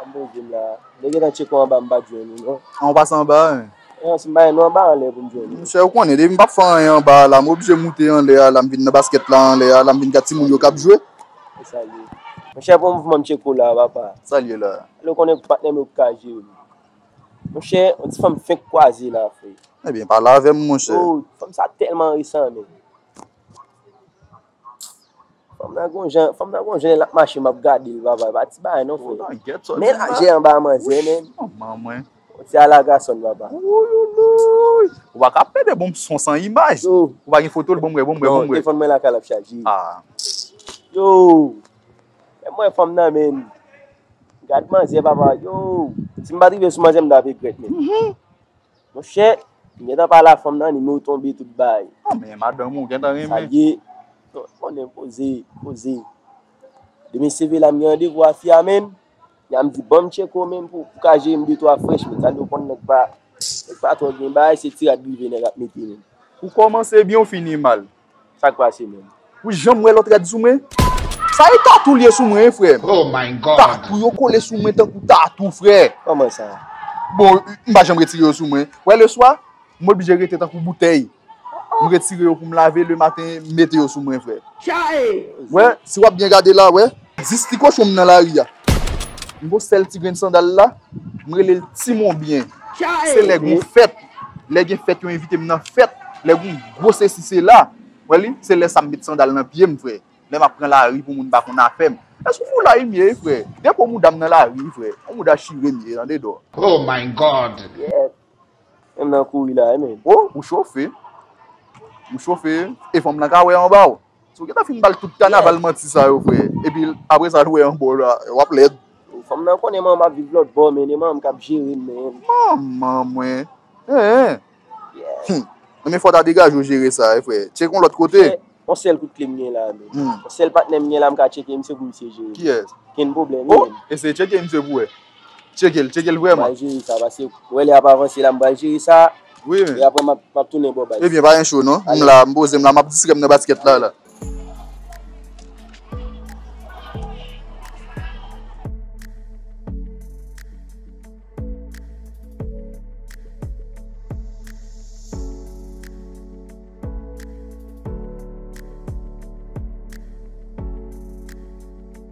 An bon dim la. Mwen gentan tcheke w anba m pat jwenn ou non. An ou pase anba a men. An si m pa jwenn ou anba anlè pou m jwenn ou. Monchè ou konnen depi m pap fè anyen anba a la m oblije moute anlè a la m vin nan baskèt la anlè a la m vin gad timoun yo kap jwe. E sa l ye. Monchè bon mouvman m tcheke w la papa. Sa l ye la. Alò konnen pou patnè m yo ki ka jere m. Monchè yon ti fanm fenk kwaze la frè. Ebyen pale avè m monchè. Oh fanm sa tèlman resan men. Fanm nan gon jan, fanm nan gon jan lap mache map gadel papa epa ti bagay non freo. Men lajè anba manzè men. Manman mwen. Yon ti alagason papa. Wouyoulouyy. Ou pa ka ap pede bonm son san imaj. Yo. Ou pa gen fotol bonm wè, bonm wè, bonm wè. Non, telefon mwen lakay lap chaje. Ah. Yo. Fèm wè fanm nan men. Gad manzè papa. Yo. Sim pa trive sou manzè mta regret men. Monchè, m gentan pale a fanm nan li menw tonbe tout bay. Ah men madanm ou gentan renmen. Sa liye, non ou konnen koze, koze. Demen CV la m gen randevou a fi a menn, fi a m di banm tcheko menn pou ou ka jerem de twa frèch menn, sa liye ou konn nèg pa, nèg pa twò gen bagay se ti rad rive nèg ap mete menn. Ou kòmanse byen ou fini mal. Sak pase menm. Ou janm wè lot rad sou mwen? Sa e tatou liye sou mwen frè. Oh my God. Tatou yo kole sou mwen tankou tatou frè. Koman sa? Bon m pa janm retire yo sou mwen. Wè le swa m oblije rete tankou boutèy. M retire yo pou m lave le maten m mete yo sou mwen frè. Chae! Wè si wap byen gade la wè. 10 ti kochon m nan lari a. M gon sèl ti grenn sandal la. M rele l ti monbyen. Chae! Se lè gon fèt. Lè gen fèt yo envite m nan fèt, lè gen gwo sesi sela, ou wè li, se lè sa m met sandal nan pye m frè, lè m ap pran lari pou moun pa konn afè m. E sou foulay m ye wi frè, depo mouda m nan lari wi frè, yon mouda chire m ye tande dò. Oh my God! Yep! Menm nan kouri la wi menn. Oh ou chofe, ou chofe e fanm lan ka wè anba w. Ou gentan fin bal tout kanaval manti sa yo vre epi apre sa nou wè anba w la wap lèd. Fanm nan konnen manman ap viv lòt bò men e manman kap jere m men. Manman mwen eeh humm men fòw ta degaje w jere sa wi frè tcheke yon lòt kote. On sèl kout kle m gen la menm. On sèl patnè m gen la m ka tcheke misye pou misye jere m. Kiyès? Kenn pwoblèm li menm. Oh ese tcheke misye pou wè. Tchekel, tchekel vreman. M'pral jere sa pase ou wè lè y'ap avanse la m'pral jere sa e aprè m'ap tounen ba w baz. Ebyen pa gen cho non. M la, m poze m la, m'ap distrè m nan basket la la.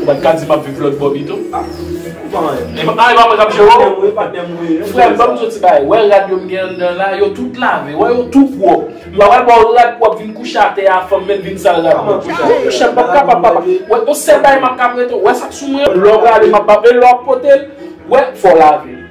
Ou pat ka di map viv lòt bò pito. E pa mwen kap jerew. Frèm banm diw yon ti bagay, wè rad yo m gen anndan la, yo tout lave, wè yo tou pwòp. M pa pral baw rad pwòp vin kouche atè a fanm mèt vin sal rad mwen. Mwen kouche m pap kapab papa. Wè yon sèl bagay map ka prete w, wè sak sou mwen an, lè w prale map baw e lè wap potel, wè fòw lave.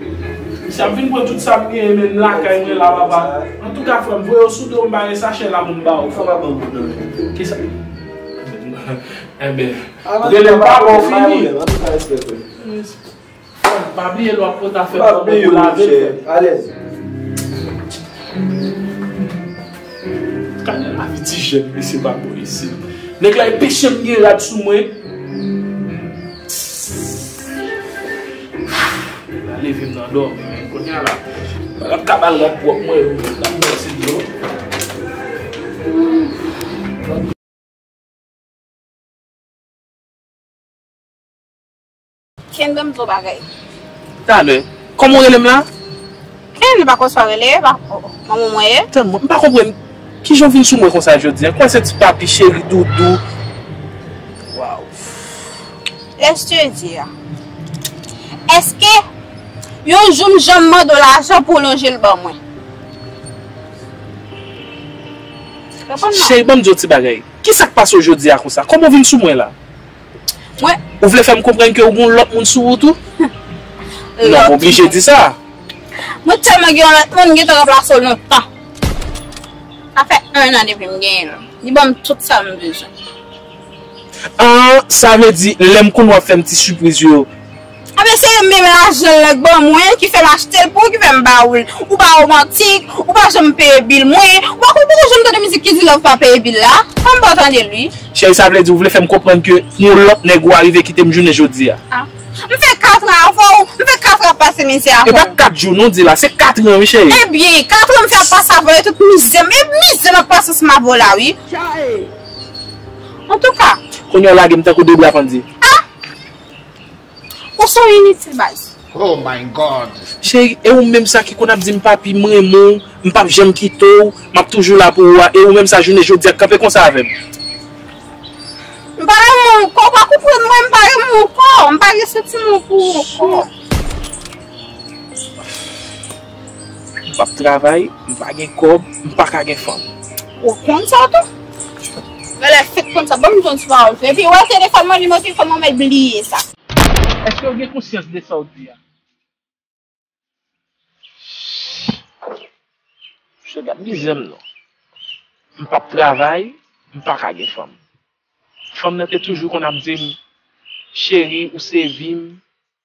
Mesye ap vin pran tout sam genyen menm lakay mwen la papa antouka frèm voye yo sou do m bare sachè la pou m baw. Fòk avanm pou nan menm tou. Kisa? Enben relem pa baw fini. Antouka respè frèm. Frèm pa bliye lwa pot afè bon bon pou lave l frèm. Alèz. Gade lavi ti jèn mesye pa bon isit. Nèg la e peche m gen rad sou mwen. Levem nan domi men kounya la. Map kabal rad pwop mwen yo. Map brose dlo. Kenbe m dlo bagay. Talè. Koman w rele m la? Hum li pa konn sa rele epa oh manman mwen ye. Tann mwen, m pa konprann kijan w vin sou mwen konsa jodi an, kòman se ti papi, cheri, doudou, waww. Laisse te dire. Eske yon jou m janm mande w lajan pou w lonje l ban mwen? Reponn non. Cheri banm di w ti bagay, kisa k pase w jodi a konsa, kòman w vin sou mwen la? Mwen. Ou vle fè m konprann ke ou gen yon lòt moun sou ou tou? Non, m oblije di sa. Mwen tèlman gen yon lòt moun, m gentan ranplase w nan tan. Sa fè 1 an depi m genyen l. Li ban m tout sa m bezwen. An, sa vle di lè m konn w ap fè m ti sipriz yo. Ap eseye menm lajan lan k ban mwen ki fèm achtel pou ou ki fèm ba oul ou pa romantik ou pa janm peye bil mwen ou pa konn pouki ou janm tande mizik ki di love pa peye bil la an m pa tandel ui. Cheri sa vle di ou vle fèm konprann ke yon lòt nèg ou arive kitem jounen jodia. Ah m fè 4 ans avèw m fè 4 ans ap pase mizè avèw. Epa 4 jou non di la se 4 ans wi cheri. Ebyen 4 ans m fè ap pase avèw e tout mizè m e mizè m ap pase sou mabo la wi. Chaee. Antouka. Kounya w lagem tankou 2 bra pandye. Ah! Ou se yon initil baz. Oh my God. Cheri e ou menm sa ki konn ap dim papi m renmen w m pap janm kite w map toujou la pou ou a e ou menm sa jounen jodia k kanpe konsa avèm. M pa renmen w ankò ou pa konprann mwen m pa renmen w ankò m pa gen santiman pou ou ankò. M pap travay, m pa gen kòb, m pa ka gen fanm. Ou konn sa tou? Mwen la fèk konn sa. Ban m jwenn sou pawòl sa. Epi, wè telefòn mwen nimewo telefòn mwen mèt bliye sa. Èske ou gen konsyans de sa ou di a? Msye gad mizè m non. M pap travay, m pa ka gen fanm. Fanm nan te toujou konn ap di m, Cheri, ou se vi m.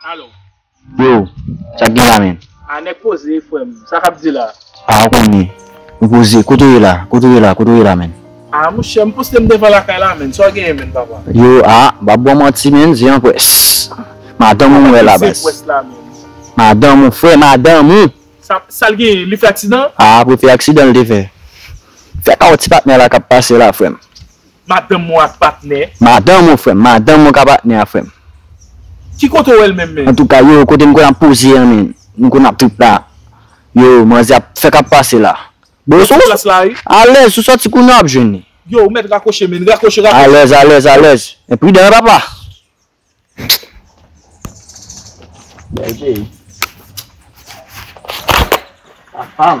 Alo. Yo, sak gen la menn? Ah nèg poze frèm, sa kap di la? Ah ou konnen, ou poze, kote ou ye la, kote ou ye la, kote ou ye la menn? Ah mouche, m poste m devan lakay la menn, sa w genyen menn papa? Yo, ah m pap ba w manti menn, se yon pwès. Madanm ou m wè la baz. Madanm ou frè, madanm ou! Sa, sa l genyen, li fè aksidan? Ah prefe aksidan l te fè. Fè pa w ti patnè la kap pase la frèm. Madanm ou ak patnè. Madanm ou frèm. Madanm ou ka patnè a frèm. Ki kote ou wèl menm menm. Antouka yo kote m konn ap poze an menn m konn ap trip la yo manzè ap fè kap pase la bon sou alèz sou sòti kounya wap jwenn li. Yo ou mèt rakwoche menn rakwoche rakwoche. Alèz alèz alèz men pridan wi papa. Bèl peyi papam.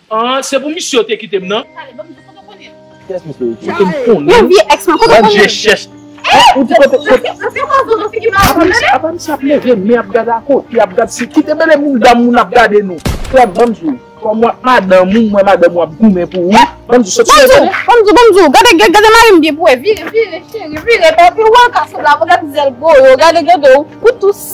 An se pou misye yo te kitem nan. Kiyès misye yo te? Em konnen ou. Bann je chèch. Ou di kote kote. Apami sa ap leve men ap gad akote ap gad si kite mele moun dam moun ap gade nou. Frèm banm di ou. Kòm ou ak madanm ou mwen madanm ou ap goumen pou ou. Banm di soti leve. Banm di banm di ou. Gade gade gade marim byen pou ou. Vire vire cheri vire. Epi ou al ka sou la pou gade zèl gwo yo. Gade gade ou. Ou tou.